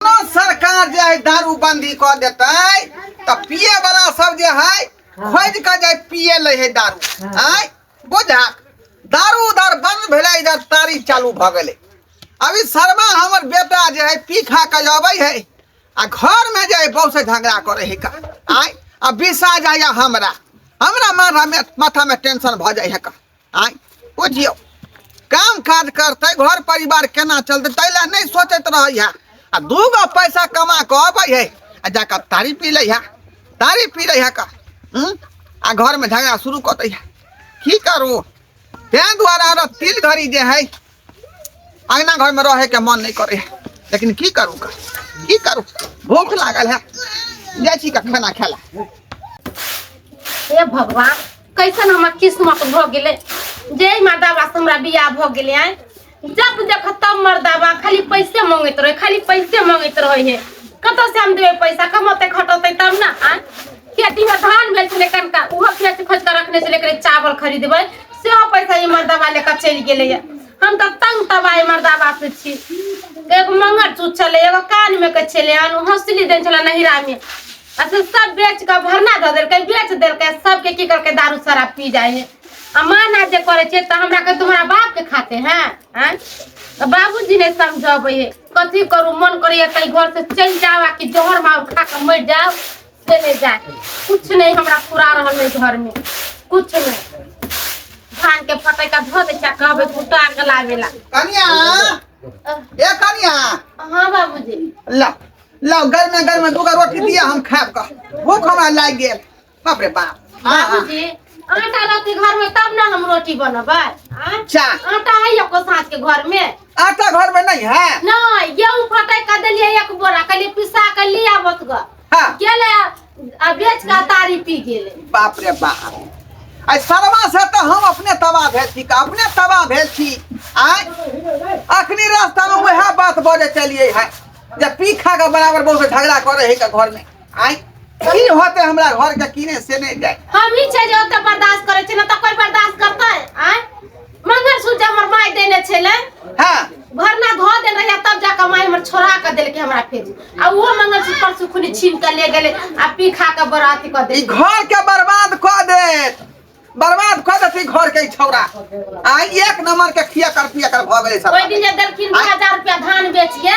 कोनो सरकार जे है दारू बंदी कर देते तो पिए वाला सब जे है खोज के जे पिए ले है दारू आय बुझा दारू उधर बंद भेले इधर तारी चालू भ गेले अभी शर्मा हमर बेटा जे है पी खा के अबै है आ घर में जे है बहू से झगड़ा करे है का आय आ बिसा जाय हमरा हमरा माथा में माथा में टेंशन भ जाय है का आय बुझियो काम काज करते घर परिवार केना चलते ताहि लए नहि सोचैत रहै है आ दू गो पैसा कमा के अबै है आ जाकर तारी पी लै है तारी पी लै है का हम्म? आ घर में झगड़ा शुरू कर दै है की करू तें दुआरे अगर तिल घड़ी जे है अंगना घर में रहे के मन नहीं करे लेकिन की करू का की करू भूख लागल है जाय छी का खाना खेला हे भगवान कैसन हमर किस्मत भ गेले जय माता बा हमरा बियाह भ गेले आय जब देख तब मर्दाबा खाली पैसे मांगैत रहे खाली पैसे मांगैत रहे हे कतऽ से हम देबै पैसा कमते खटते तब ना आय खेती में धान भेल छलै कनका उहो खेत खोज के रखने छलै एकरे चावल खरीदबै से पैसा ई मर्दबा लेकर चलि गेलै हम तऽ तंग तबाय मर्दबा से छी एगो मंगर चूत छलै एगो कान में के छलै हन हौसली देन छलै नहिरा में आ से सब बेच के भरना धऽ देलकै बेच देलकै सबके की करके दारू शराब पी जाइ है आ माना जे करे छै तऽ हमरा के तुम्हारा बाप के खाते हैं हैं तऽ बाबूजी ने समझबै है कथी करू मन करैया कहीं घर से चलि जाओ आ कि जहर मार खा के मर जाओ से नहीं जाए कुछ नहीं हमरा पूरा रहल है घर में कुछ नहीं धान के फटे का धो दे क्या कहबे कुटा के लागेला कनिया ए कनिया हाँ बाबूजी ला ला घर में घर में दूगो रोटी दिया हम खाएब का भूख हमरा लाग गेल बाप रे बाप हाँ, हाँ। बाबूजी आटा रहते घर में तब ना हम रोटी बनबै आँ? अच्छा आटा है एको साँझ के घर में आटा घर में नहीं है नहीं गेहूँ फटे का देलिए एक बोरा कहलिए पिसा के ले आबत ग हाँ गेले आ बेच के तारी पी गेले बाप रे बाप आई सरवा से तो हम अपने तबाह भेल छी का अपने तबाह भेल छी आय अखनी रास्ता में वह बात बजे चलिए है जे पी खा के बराबर बहुत झगड़ा करे है का घर में आय की होते हमरा घर के किने से नहीं जाए हम ही छै जे ओते बर्दाश्त करे छै ना तो कोई बर्दाश्त करते हैं आय मंगलसूत्र जे हमर माय देने छले हाँ घर में धो देल रहिया तब जाकर माय हमर छोड़ा के देल के हमरा फेर आ वो मंगलसूत्र पर सुखुनी छीन के ले गेले आ पी खा के बराती कर ई देल घर के बर्बाद क देत बर्बाद क देत ई घर के ई छौरा आ एक नंबर के खिया कर पिया कर भ गेले ओई सब दिन जे देलखिन 2000 रुपया धान बेच के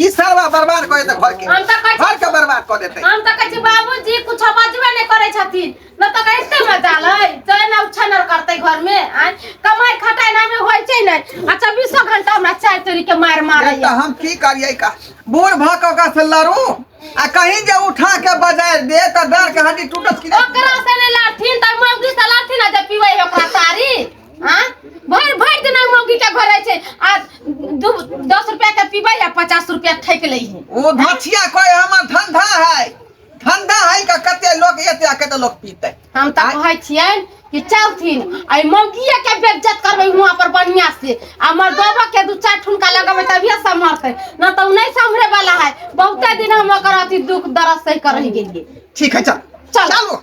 ई सारा बर्बाद कर देते घर के हम तऽ कहै घर के बर्बाद कर देते हम तऽ कहै छी बाबूजी कुछ बजबे नहि करै छथिन न तऽ कैसे मजाल है चल ना उछनर करते घर में आय कमाई खटाई ना में होय छै नै आ 24 घंटा हमरा चाय तोरी के मार मारै तो हम की करिए का बूढ़ भऽ कऽ ओकरा से लड़ू आ कहीं जे उठा के बजाय दे तऽ डर के हड्डी टूटत कि ओकरा से नै लड़थिन तऽ मौगी से लड़थिन आ जे पीबै है ओकरा तारी आ भरि भरि दिन ओहि मौगी के घर रहै छै आ दू दस रुपया के पीबै आ पचास रुपया ठकि लै है ओ भछिया कोई हमर धंधा है धंधा है का कते लोग एते आ कते लोग पीते हम तऽ आइ- कहै छियनि कि चलथिन आ ई मौगिये के बेइज्जत करबै हुआं पर बढ़िया से आ हमर दोबो के दू चार ठुमका लगेबै तभिए सम्हरतै न तऽ उ नहि सम्हरे वाला है बहुते दिन हम ओकर अथी दुख दर्द सहि कर रहि गेलियै ठीक है चल चल। चलो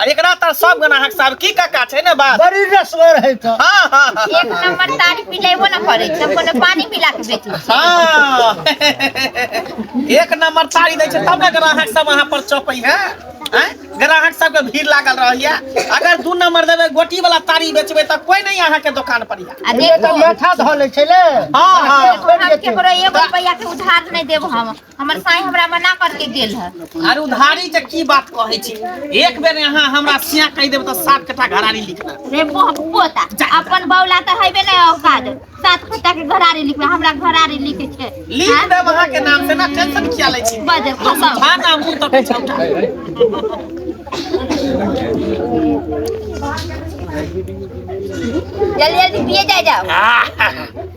आ एकरा तर सब गना हक साहब की काका छै ने बात बड़ी रसगर है तो हां हां हां एक नंबर तारी पिलेबो ना करे तब कोनो पानी पिला के बेटी हां एक नंबर तारी दै छै तब ने ग्राहक सब वहां पर चौपै है हैं ग्राहक सब के भीड़ लागल रहैया अगर दू नंबर देबे गोटी वाला तारी बेचबे त कोई नहीं अहां के दुकान पर या आ ये तो देखो माथा धो ले छे ले हां हां हम केकरो एगो रुपया के उधार नहीं देब हम हमर साईं हमरा मना करके गेल है अरे उधारी से की बात कहै छी एक बेर यहाँ हमरा सिया कहि देब तऽ सात कट्ठा घरारी लिखना रे मोह पोता अपन बौला तऽ हेबे नहि औकाद सात कट्ठा के घरारी लिखबे हमरा घरारी लिखे छै लिख हाँ? देब अहाँ के नाम से ना टेंशन किया लै छी बजे खसम भा ना मुंह तक छौटा जल्दी जल्दी पिए जा जाओ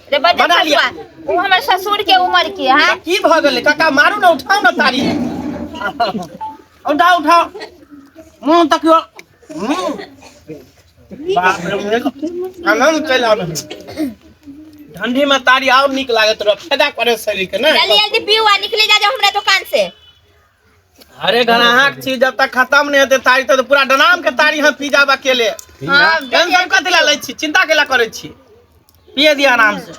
रे बजे बना लिया। ससुआ, ऊ हमर ससुर के उम्र के है आ, की भऽ गेलै काका मारू ने उठाउ ने तारी उठाउ उठाउ मुँह तकियो मुँह बाप रे मुँह आनन्द चलि आबै ठंडी में तारी और नीक लागत रह फायदा करे शरीर के ने जल्दी जल्दी पीऊ आ निकले जा जाओ हमरा दुकान से अरे गनाहा के चीज जब तक खत्म नहीं होते तारी तब तो पूरा डनाम के तारी हम पी जाब अकेले हाँ, टेंशन कथी ला लै छी चिंता केला करै छी पिए दिया आराम से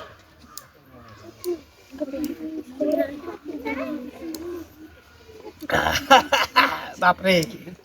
बाप रे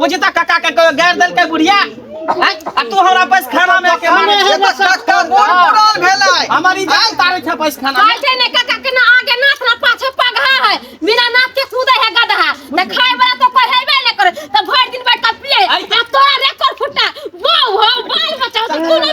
बुझी त काका के कोई गाड़ दल के बुढ़िया हैं? आ तू हमरा पैस खाना में के मारे ये तो काका मोर पुरान भेलै हमारी जान तारे छ पैस खाना में कहते ने काका के ना आगे नाथ ना पाछे पगहा है बिना नाथ के कूदे है गदहा त खाए वाला तो पढ़ाइबे न करे त भर दिन बैठ के पिए आ तोरा रे कर फुटा बो हो बाल बचाओ त तू ना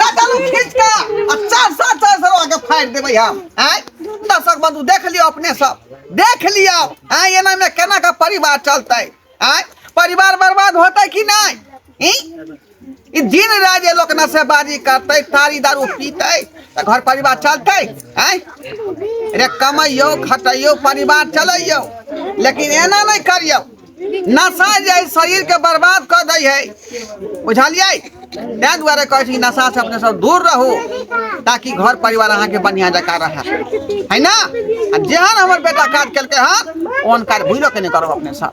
लगल खींच के आ चार सौ चार सौ आगे फाड़ देबै हम आय दर्शक बंधु देख लियो अपने सब देख लियो आय एना में केना का परिवार चलतै आय परिवार बर्बाद होतै कि नहीं ई ई दिन रात ये लोग नशेबाजी करतै तारी दारू पीतै तऽ घर परिवार चलतै आय रे कमैयौ खटैयौ परिवार चलैयौ लेकिन एना नहि करियौ नशा जे है शरीर के बर्बाद कर दै है बुझलियै तै दुआरे कहै छी कि नशा से अपने सब दूर रहू ताकि घर परिवार अहाँ के बढ़िया जका रहे है ना आ जेहन हमर बेटा काज केलकै हन ओहन काज भूलो के नहीं करब अपने सब